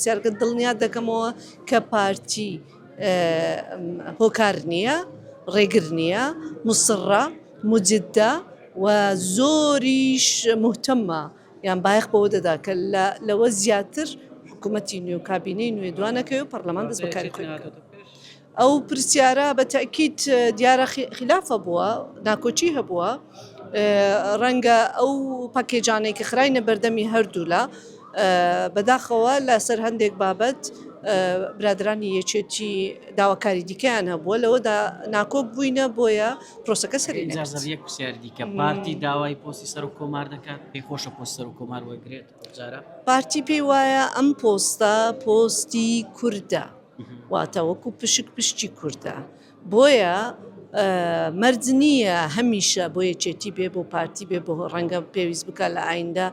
جەرگت دڵنیات دەکەمەوە کە پارتی هۆکار نیە ڕێگر نیە موسڕە موجدە و زۆریش موهتەمە یان بایەخ بەوە دەدا کە لەوە زیاتر حکومەتی نوێ و کابینەی نوێ دوانەکەوێ و پەڕلەمان دەست بە کاری خۆی بکات. ئەو پرسیارە بە تەئکید دیارە خیلافە بووە، ناکۆکی هەبووە، ڕەنگە ئەو پەکێجانەی کە خراینە بەردەمی هەردوولا بەداخەوە لە سەر هەندێک بابەت برادەرانی یەکێتی داواکاری دیکەیان هەبووە لەوەدا ناکۆک بووینە بۆیە پرۆسەکە سەری نەگرت. یەک پرسیاری دیکە، پارتی داوای پۆستی سەرۆک کۆمار دەکات، پێی خۆشە پۆستی سەرۆک کۆمار وەرگرێت ئەمجارە؟ پارتی پێی وایە ئەم پۆستە پۆستی کوردە. واتە وەکو پشک پشتی کوردە بۆیە مەرج نییە هەمیشە بۆ یەکێتی بێ بۆ پارتی بێ بۆ ڕەنگە پێویست بکە لە ئایندە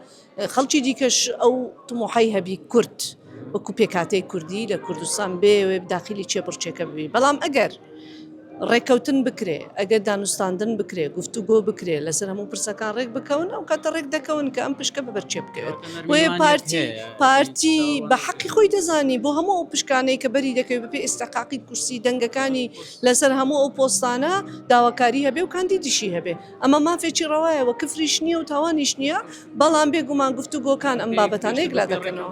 خەڵکی دیکەش ئەو تمۆحی هەبی کورد وەکو پێکاتەی کوردی لە کوردستان بێوێ داخلی چێ بڕچێکە ببی بەڵام ئەگەر ڕێککەوتن بکرێ، ئەگەر دانوستاندن بکرێ، گفتوگۆ بکرێ، لەسەر هەموو پرسەکان ڕێک بکەون، ئەو کاتە ڕێک دەکەون کە ئەم پشکە ببەر چێ بکەوێت. بۆیە پارتی پارتی بە حەقی خۆی دەزانی بۆ هەموو ئەو پشکانەی کە بەری دەکەوێت بە پێی ئیستحقاقی کورسی دەنگەکانی لەسەر هەموو ئەو پۆستانە داواکاری هەبێ و کاندیدیشی هەبێ. ئەمە مافێکی ڕەوایە و کفریش نییە و تاوانیش نییە، بەڵام بێگومان گفتوگۆکان ئەم بابەتانە یەکلا دەکەنەوە.